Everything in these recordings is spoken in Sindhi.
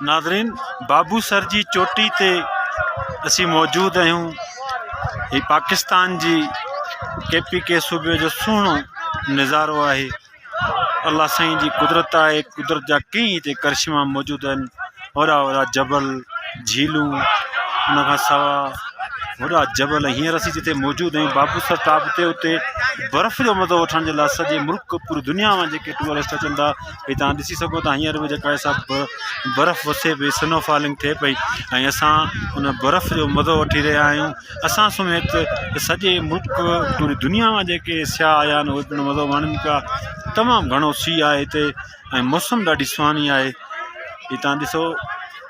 ناظرين بابو سر جي چوٽي تي اسي موجود آهيون هي پاڪستان جي ڪي پي ڪي صوبي جو سهڻو نظارو آهي الله سائين جي قدرت آهي قدرت جا ڪئي هتي ڪرشما موجود آهن هورا هورا جبل جھيلون ان کان سوا هورا جبل هينئر اسي جتي موجود آهيون بابو سر ٽاپ تي اتي برف جو مزو وٺڻ جي لاء سڄي ملڪ پوري دنيا مان جيڪي ٽوئرسٽ اچن ٿا ڀئي تان ڏسي سگھو ٿا ھينئر به جيڪا سڀ برف وسي پئي سنو فالنگ ٿئي پئي ۽ اسان ان برف جو مزو وٺي رھيا آھيون اسان سميت سڄي ملڪ پوري دنيا مان جيڪي سياح آيا آھن اھي مزو ماڻين پيا تمام گھڻو سي آھي ھتي ۽ موسم ڏاڍي سھاني آھي ھي تان ڏسو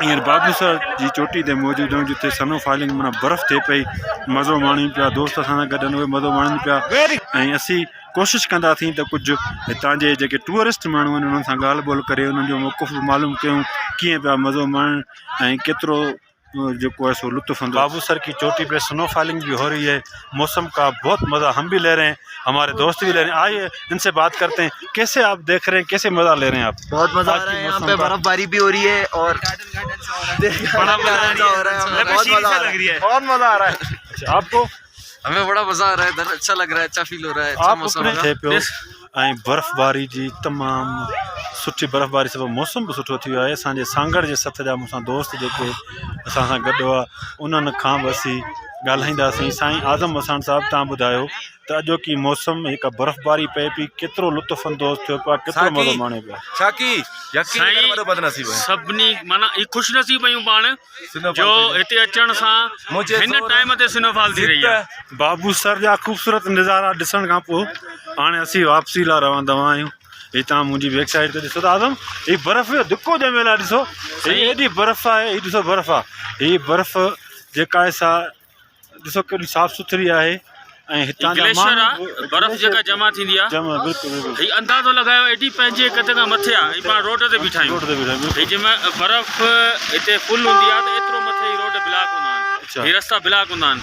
ھينئر بادوسا جي چوٽي تي موجود آھيون جتي سنو فالنگ معنيٰ برف ٿئي پئي مزو ماڻيون پيا دوست اسان سان گڏ اھي مزو ماڻين پيا ۽ اسين ڪوشش ڪندا ٿي ته ڪجھ ھتان جي جيڪي ٽوئرسٽ ماڻھو آھن انھن سان ڳالھ ٻولھ ڪري انھن جو موقف معلوم ڪيون ڪيئن پيا مزو ماڻين ۽ ڪيترو جيڪو آهي سو لطف اندوز بابو سر ڪي چوٽي پي سنو فالنگ بي هو رهي هي موسم ڪا بهت مزا هم بي لي رهي هي هماري دوست بي لي رهي آئي هي ان سي بات ڪرتي هي ڪيسي آپ ديک رهي هي ڪيسي مزا لي رهي هي آپ بهت مزا آ رها هي يهان پي برف باري بي هو رهي هي اور بهت مزا آ رها هي بهت مزا آ رها هي آپ ڪو همين بڙا مزا آ رها هي در اچھا لڳ رها هي اچھا فيل هو رها هي اچھا موسم هو رها هي ۽ برفباري جي تمام سٺي برفباري سبب موسم به سٺو ٿي ويو آهي اسان جي سانگھڙ جي سٿ جا مون سان دوست جيڪي اسان سان گڏ هئا انهن کان به اسين ڳالهائينداسين سائين اعظم وساڻ صاحب تان ٻڌايو ته اڄوڪي موسم هڪ برفباري پئي پئي ڪيترو لطف اندوز ٿيو پيو آهي ڪيترو مزو ماڻيو پيو آهي سائين سڀني معنيٰ خوش نصيب آهيون پاڻ جو هتي اچڻ سان هن ٽائيم تي سنو فال ٿي رهي آهي. بابو سر جا خوبصورت نظارا ڏسڻ کان پوء هاڻي اسين واپسي لاء روان دوان آهيون. هي توهان منهنجي بيڪ سائيڊ تي ڏسو ٿا اعظم هي برف جو دڪو ڄميل آهي ڏسو هي ايڏي برف آهي هي ڏسو برف آهي هي برف جيڪا آهي سا ڏسو ڪيڏي صاف سٿري آهي ۽ هتان جا گليشر آ ماڻهو برف جيڪا جمع ٿيندي آ جمع بلڪل بلڪل هي اندازو لڳايو ايڏي پنهنجي قد کان مٿي آ هي پاڻ روڊ تي بيٺا روڊ آهيون تي بيٺا آهيون هي بلڪل جمع برف هتي فل هوندي آ ته ايترو مٿي هي روڊ بلاڪ هوندا آهن اچا هي رستا بلاڪ هوندا آهن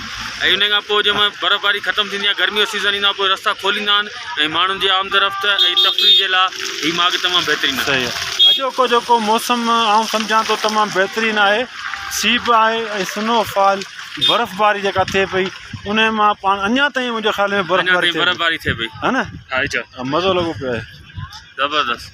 ۽ ان کان پوء جمع برف باري ختم ٿيندي آ گرمي جو سيزن ايندو آ پوء رستا کوليندا آهن ۽ ماڻهن جي آمد رفت ۽ تفريح جي لاء هي ماڳ تمام بهترين آهي صحيح آ اڄوڪو جيڪو موسم آئون سمجهان ٿو تمام بهترين آهي سيپ آهي ۽ سنو فال برف باري جيڪا ٿئي پئي ان مان پاڻ اڃان تائين منهنجي خيال ۾ برف باري ٿئي پئي ها نه مزو لڳو پيو آهي زبردست